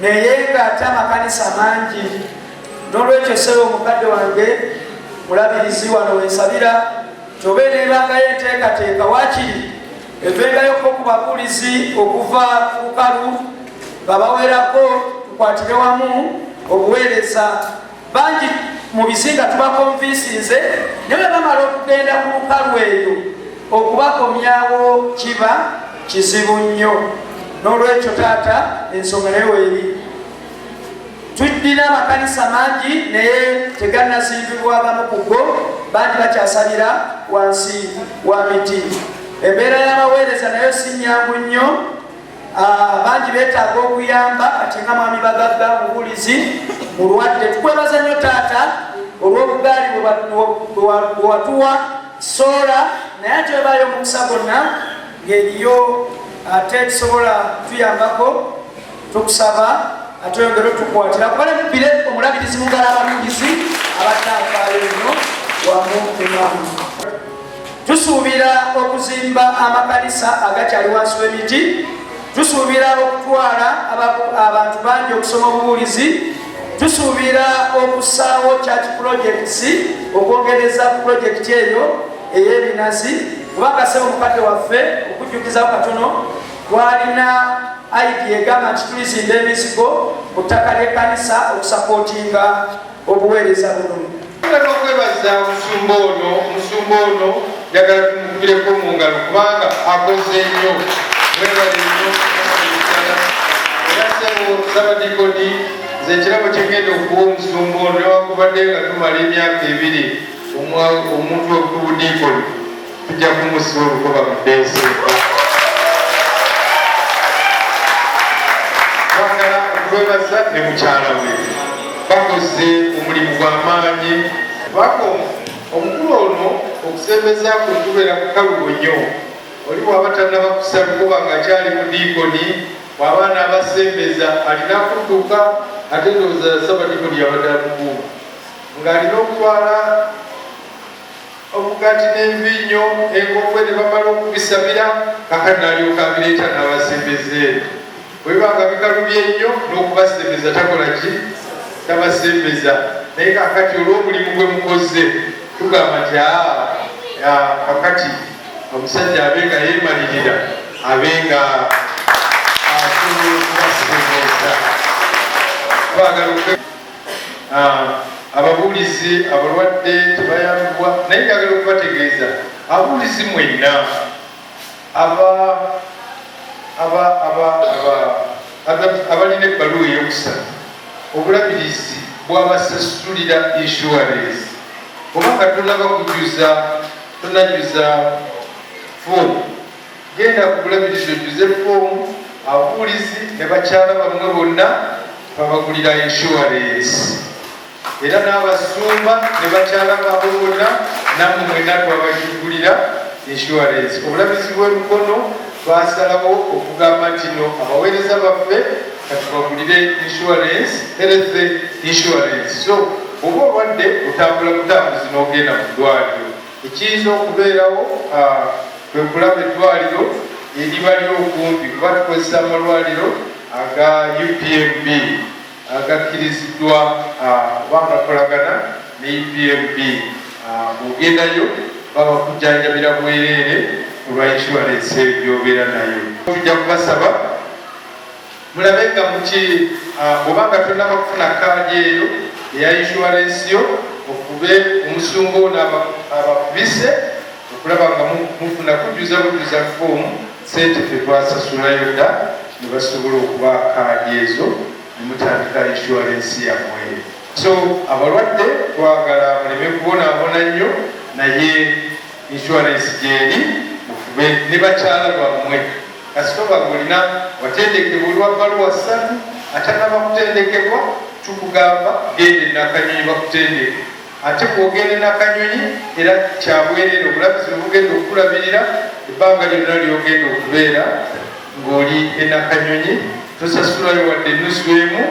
naye nga ate amakanisa mangi n'olwekyo sebo omukadde wange mulabirizi wano wensabira tobe nebangayo enteekateeka wakiri evengayo ko ku babuulizi okuva ku lukalu nga bawerako tukwatire wamu obuweereza bangi mu bizinga tubakonvinsinze ne bwe bamala okugenda ku lukalu eyo okubakomyawo kiba kizibu nnyo n'olwekyo taata ensonga naye weeri tuddina amakanisa mangi naye teganazimbibwa gamu ku go bangi bakyasabira wansi wa miti embeera y'abaweereza nayo si nyangu nnyo Ah, bangi betaaga okuyamba kati nga mwami bagagga mubulizi mulwadde tukwebaza nnyo taata olw'obugaali bwewatuwa soola naye ate webaayo omukisa gonna ngeriyo ate tusobola tuyambako tukusaba ate oyongere otukwatira kubale mubire omulabirizi mugala ababulizi abadde afaayo nnyo wamu emamu tusuubira okuzimba amakanisa agakyali wansi w'emiti tusuubira okutwala abantu bangi okusoma obubuulizi tusuubira okusaawo church projects okwongereza ku projekiti eyo ey'ebinazi kubanga sebo mukadde waffe okujjukizawo katono twalina aidi egamba nti tulizimba emizigo mu ttaka ly'ekkanisa okusapootinga obuweereza buno agala okwebaza omusumba ono omusumba ono njagala tumukubireko mu ngalo kubanga akoze nnyo webale nnyo era sebo sabadikoni nze ekirabo kyengenda okuwa omusumba ono newakubadde nga tumala emyaka ebiri omuntu okubudiikoni Tujja kumusiba olugoba mu Desemba. Twagala okwebaza ne mukyala we bakoze omulimu gwa maanyi. Bako omukulu ono okusembeza kwe kubeera kukalubo nnyo. Oli bw'aba tannaba kussa lugoba ng'akyali mu diikoni bw'aba anaabasembeza alina kudduka ate ndowooza Ssabadiikoni yabadde amukuuma ng'alina okutwala omugati n'enviinyo, enkokwe ne bamala okubisabira Kabaka n'alyoka abireeta n'abasembeza eno. Bwe biba nga bikalubye nnyo n'okubasembeza takola ki? Tabasembeza. Naye kaakati olw'omulimu gwe mukozze tugamba nti aa kakati omusajja abe nga yeemalirira abe nga asobola okubasembeza twagala Ababuulizi abalwadde tebayambibwa naye njagala okubategeeza abuulizi mwenna abalina ebbaluwa eyokusatu obulabirizi bwabasasulira insurance oba nga tonaba kujuza tonajuza foomu Genda ku Bulabirizi ojjuze foomu ababuulizi ne bakyala bammwe bonna babagulira inshuwarensi era n'abasumba ne bakyala baabwe bonna nammwe mwenna twabagigulira inshuwarensi. Obulabirizi bw'e Mukono baasalawo okugamba nti no abaweereza baffe katubagulire inshuwarensi, health inshuwarensi. So bw'oba olwadde otambula butambuzi n'ogenda mu ddwaaliro. Ekiyinza okubeerawo kwe kulaba eddwaaliro eriba ly'okumpi kuba tukozesa amalwaliro aga UPMB agakkiriziddwa oba agakolagana ne UPMB. Bw'ogendayo babakujjanjabira bwereere olwa inshuwalensi eyo gy'obeera nayo. Tujja kubasaba. Mulabe nga muki bwoba nga tonaba kufuna kaadi eyo eya inshuwarensi yo ofube omusumba ono abakubise okulaba nga mufuna kujjuza bujjuza foomu sente fe twasasulayo dda ne basobola okuba kaadi ezo ne mutandika inshuwarensi yamwe so abalwadde twagala muleme kubonaabona nnyo naye inshuwarensi gyeri mufube ne bakyala bammwe Kasita oba ng'olina watendekebwa oli wa bbaluwa ssatu atannaba kutendekebwa, tukugamba genda e Nakanyonyi bakutendeke. Ate bw'ogenda e Nakanyonyi era kya bwereere obulabirizi bwe bugenda okukulabirira ebbanga lyonna ly'ogenda okubeera ng'oli e Nakanyonyi. Tosasulayo wadde ennusu emu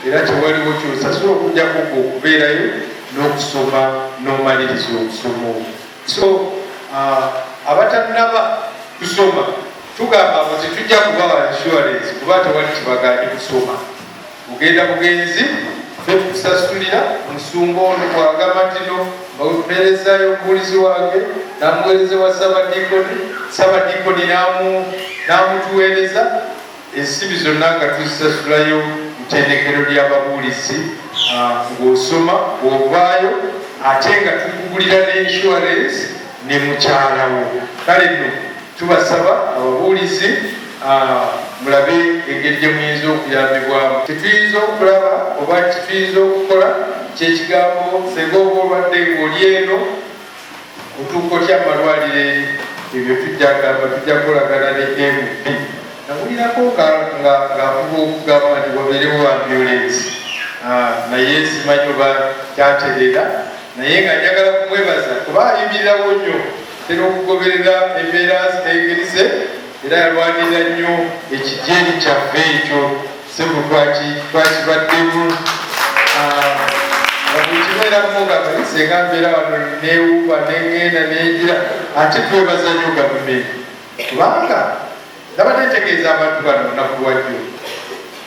era tewaliwo ky'osasula okuggyako ggwe okubeerayo n'okusoma n'omaliriza okusoma okwo. So uh, abatanaba kusoma tugamba ngo tetujja kubawa insurance kuba tewali kibaganye kusoma mugenda bugenzi nokusasulira omusumba ono kwagamba tino mbaweperezayo omubulizi wange namuwereze wa sabadikoni sabadikoni namutuwereza Ensimbi zonna nga tuzisasulayo ttendekero lya babuulizi ng'osoma bw'ovaayo ate nga tukugulira ne inshuwarensi ne mukyala wo kale nno tubasaba ababuulizi mulabe engeri gye muyinza okuyambibwamu kituyinza okulaba oba kituyinza okukola kyekigambo senga oba olwadde ng'oli eno Mutuuko ki amalwaliro eri ebyo tujja gamba tujja kukolagana ne AMB. Nawulirako nga avuga okugamba nti wabeerewo ambulensi naye simanyi oba kyatereera naye nga njagala kumwebaza kuba ayimirirawo nnyo tera okugoberera embeera engeri ze Era yalwanirira nnyo ekidyeri kyaffe ekyo ssebo twakibaddemu bwekibeeramu nga senga mbeera wano newuuba neŋŋenda nengira ate twebaza nnyo gavumenti kubanga nabadde ntegeeza abantu bano lunaku lwajjo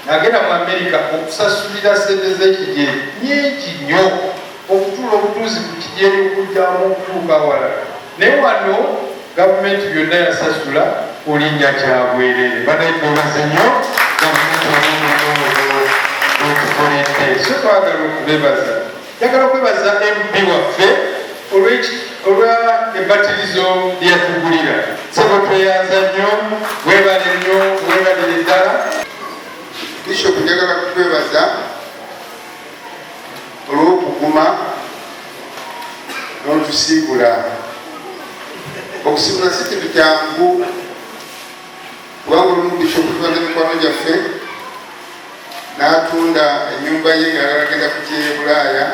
nagenda mu amerika okusasulira sente zekigye nyingi nnyo okutuula obutuuzi ku kigyeri okujjamu okutuuka awalala Ne wano gavumenti byonna yasasula kulinnya kyabwerere banayetwebaze nnyo gavumenti wamunonoolo wetukoledde so twagala okubebaza njagala okwebaza mp waffe olwa embatirizo lyeyatugulira sebo tweyanza nnyo webale nnyo webalire ddala bishop njagala kukwebaza olw'okuguma n'otusiibula okusiibula si kintu kyangu kubanga olumu bishopu tubadde mikwano gyaffe n'atunda ennyumba ye nga agenda ku kyeye bulaaya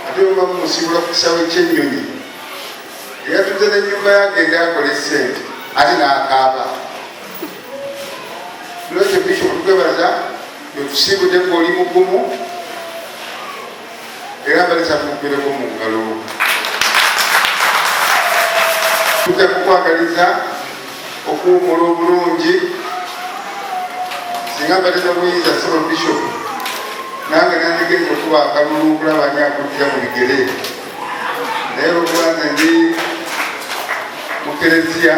ate oba mumusiibula ku kisaawe ky'ennyonyi eyatunze n'ennyumba ye agende akole ssente ate n'akaaba lwekyo bishopu twebaza Wetusiibudde nga oli mugumu era nga likyakumukwireko mu ngalo. Tujja kukwagaliza okuwumula obulungi singa mbadde nobuyinza solo bishop nange nandigenza okuba akalulu okulaba ani akujja mu bigere naye lwokuba nze ndi mu kereziya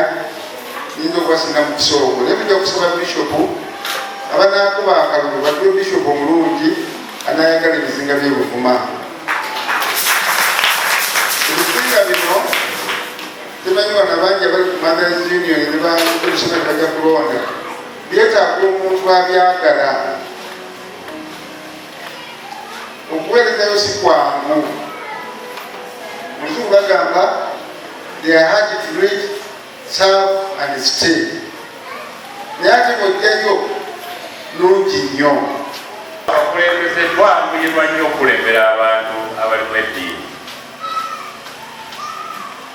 nyinza okubasinga mukisa ogwo naye mujja kusaba bishopu abanakuba akalulu batuwe bishopu omulungi anayagala ebizinga byebuvuma ebizinga bino temanyi bana bangi abali ku mothers union nebaebisoma nebajja kulonda byetaaga omuntu abyagala okuweerezayo si kwangu muzungu bagamba they are hard to read serve and stay naye ate bwojjayo nungi nnyo abakulembeze twanguyirwa nnyo okulembera abantu abalimu eddiini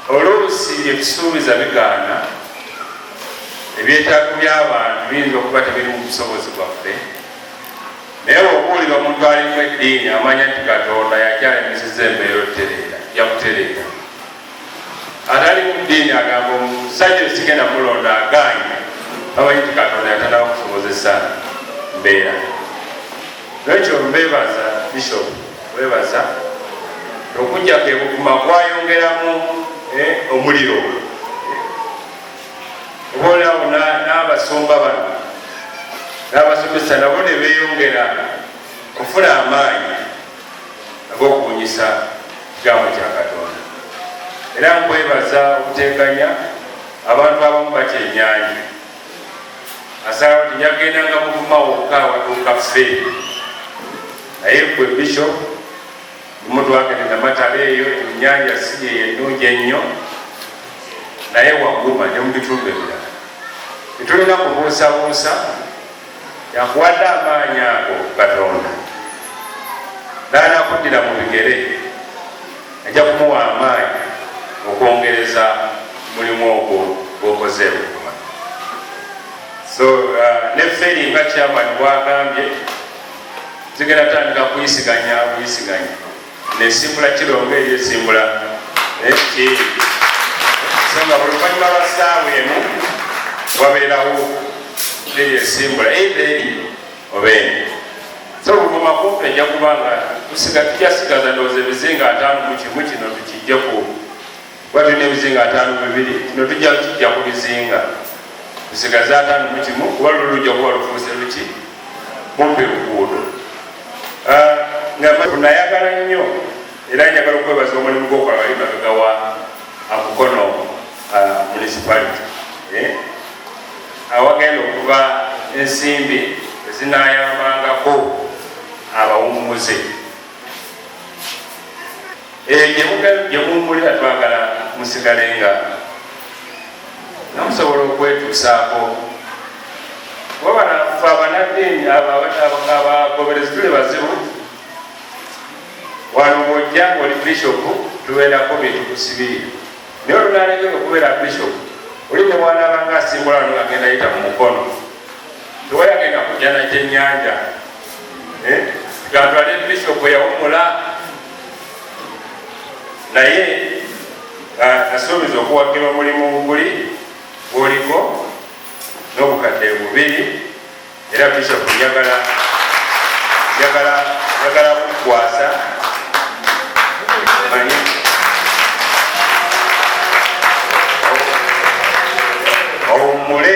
oluusi byetusuubiza bigaana ebyetaago by'abantu biyinza okuba tebiri mu busobozi bwaffe naye okuwulira omuntu alimu eddiini amanya nti katonda yakyayimisiza embeera otereera yakutereera atali mudiini agamba omusajja sikenda mulonda agaanye bamanyi ti katonda yatandaba kusobozesa mbeera nekyo mbebaza bishop webaza okujja kebukuma kwayongeramu eh, omuliro obaolyawo n'abasumba bano n'abasomesa nabo ne beyongera kufuna amaanyi ag'okubunyisa kigambo kya Katonda era nkwebaza okuteganya abantu abamu bakyenyanyi asaba nti nyagendanga mugumawo okukawatuuka ffe naye gwe bisho mutwagende namatala eyo enyanja siri eyo ennungi ennyo naye waguma ne mu bitundu ebirala tetulina kubuusabuusa Yakuwadde amaanyi ago Katonda, n'anakuddira mu bigere ajja kumuwa amaanyi okwongereza mulimu ogwo gwokoze ebuguma. So uh, ne feri nga chairman bwagambye, zigenda tandika kuyisiganya buyisiganya nesimbula kiro nga eri esimbula naye kyeyi so nga buluvanyuma lwa saawa emu wabeerawo eri esimbula eida eri oba eni so luvuma kumpi ejja kubanga tusiga tujasigaza ndowooza ebizinga ataano mu kimu kino tukijjeku kuba tulina ebizinga ataano bibiri kino tujja kijja ku bizinga tusigaze ataano mu kimu kuba luli lujja kuba lufuuse luki mumpi luguudo ah, nganayagala nnyo era njagala okwebaza omulimu gwokola bali mabega wa amukono ah, municipality eh? awagenda okuva ensimbi ezinayambangako abawummuze gyemumbulira eh, twagala musigale nga namusobola okwetuusaako wabanafe abanaddiini abagoberezi tuli bazibu wano bwojja ngaoli bishopu tubeerako bintu kusibirira naye olunalekera okubeera bishopu oli nebwanabanga asimbula no agenda yita mu mukono tewayagenda kujja na kyenyanja eh? gantwale bishop yawumula naye ah, asuubiza okuwagira omulimu guli gwoliko n'obukadde bubiri era bishop njagala njagala njagala kukwasa manyi owummule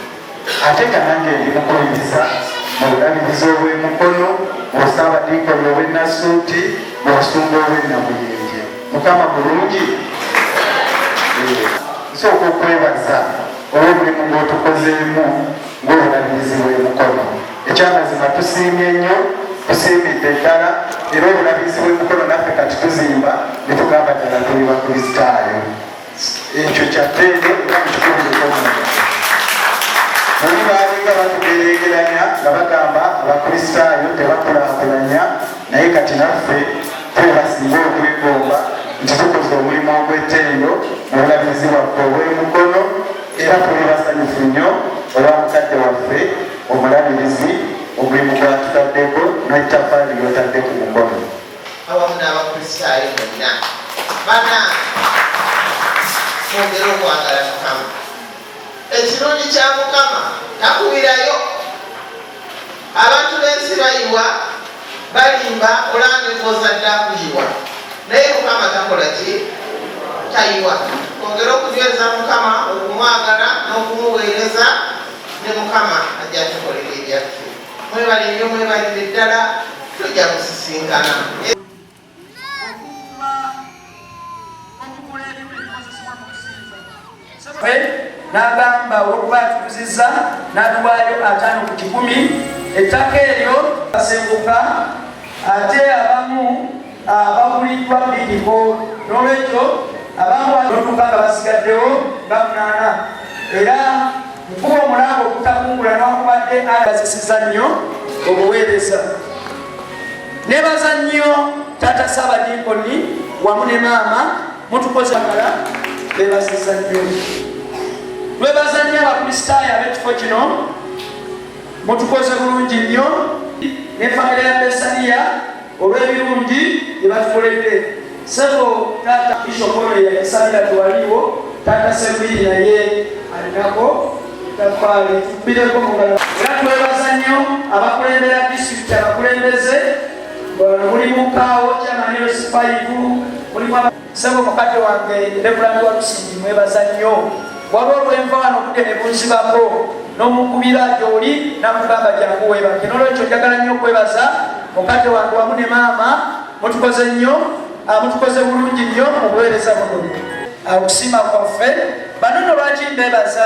ate nga nange ndi mukuyingiza mu bulabirizi obw'e Mukono, mu Ssaabadinkoni ow'e Nassuuti, mu Busumba obw'e Namuyenje. Mukama mulungi. Nsooka okwebaza olw'omulimu gw'otukozeemu ng'obulabirizi bw'e Mukono. Ekyamazima tusiimye nnyo, tusiimidde ddala era obulabirizi bw'e Mukono naffe kati tuzimba ne tugamba ddala tuli Bakristaayo. ekyo kyateege era mukikubirekomu naye baalinga batugereegeranya nga bagamba abakristaayo tebakulakulanya naye kati naffe twebasinga okwegomba nti tukoze omulimu ogw'ettendo mu bulabizi bwaffe obw'emukono era tuli basanyufu nnyo olwa mukadde waffe omulabirizi omulimu gwatutaddeko n'ettafaali lyotadde ku mukono awamu n'abakristaayo mwenna bana mwongere okwagala mukama ekirungi kya mukama takubirayo abantu b'ensi bayiwa balimba olambe kwoza dda kuyiwa naye mukama takola ki tayiwa ongere okunyweza mukama okumwagala n'okumuweereza ne mukama ajja tukolera ebyaffe Mwebale nnyo mwebalire ddala tujja kusisinkana. n'agamba olwokuba atukuziza n'atuwaayo ataano ku kikumi ettaka eryo asenguka ate abamu abaguliddwa bidiko n'olwekyo abamwanotuka nga basigaddewo nga munaana era nkuba omulanga okutakungula newakubadde alasisiza nnyo obuweereza nebaza nnyo taata saabadinkoni wamu ne maama mutukozagala bebasiza nnyo lwebaza nnyo abakristaayo ab'ekifo kino mutukoze bulungi nnyo ne famire ya besaniya olw'ebirungi bye batukoledde sebo taata ishokono yakisalira tewaliwo taata sembiri naye alinako tafaali tubireko mugala era twebaza nnyo abakulembera disitulikiti abakulembeze mulimu kaawo kyamaniro sifaivu mulimu Sebo mukadde wange Reverend Walusimbi mwebaza nnyo. Waliwo lwenva wano budde ne bunzibako n'omukubira gy'oli nakugamba jangu weebake. N'olwekyo njagala nnyo okwebaza mukadde wange wamu ne maama mutukoze nnyo ah, mutukoze bulungi nnyo mu buweereza buno. Okusiima kwaffe bano no lwaki mbebaza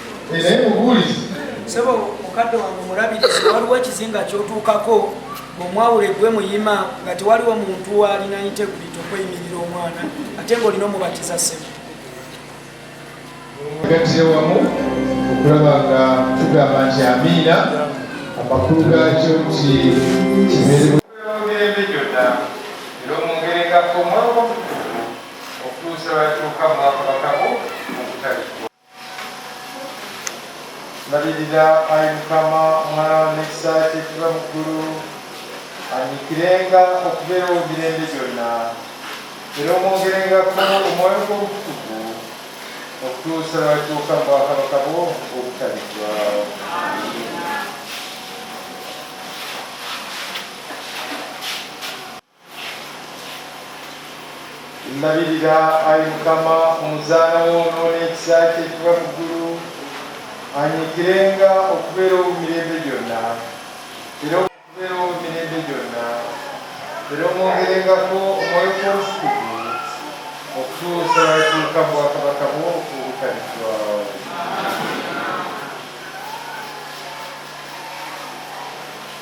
naye mubuulizi sebo mukadde wange omulabirizi waliwo ekizinga kyotuukako omwawule gwe muyima nga tewaliwo muntu waalina integrity okweyimirira omwana ate ngaolina omubatiza sebo gatize wamu okulaba nga tugamba nti amiina amakulu gakyo nti kibeere Mbalirira ayi Mukama omwana wa mikisa kyekiva mu ggulu anyikirenga okubeerawo emirembe gyonna era omwongerengako omwoyo gw'obutukuvu okutuusa lwatuuka mu bwakabaka bwo obutaliggwawo Ndabirira, ayi Mukama, omuzaana wo n'ow'ekisa kye ekiva mu ggulu, anyiikirenga okubeera owo mirembe gyonna, era okubeera owo mirembe gyonna, era omwongerengako Omwoyo gwo Omutukuvu okutuusa lw'atuuka mu Bwakabaka bwo obutaliggwaawo.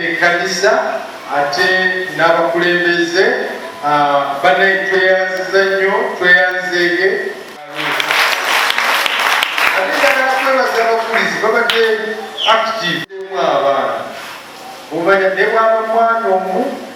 ekkanisa ate n'abakulembeze banaye tweyanziza nnyo tweyanzeege ate njagala kwebaza abakulizi babadde active abaana omanya ne bwaba mwana omu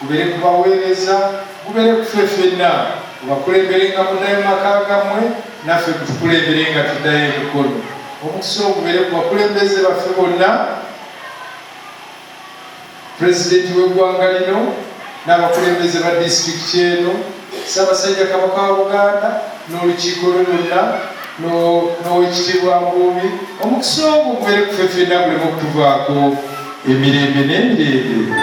Gubere ku baweereza, gubere ku ffe ffenna. Gubakulemberenga muddayo mu maka gammwe, naffe gutukulemberenga tuddayo e Mukono. Omukisa ogwo gubere ku bakulembeze baffe bonna, Pulezidenti w'eggwanga lino n'abakulembeze ba disitulikiti eno. Ssabasajja Kabaka wa Buganda n'olukiiko lwe lwonna n'owekitiibwa Mbuumi omukisa ogwo gubeere kufe fenna guleme okutuvaako emirembe n'emirembe.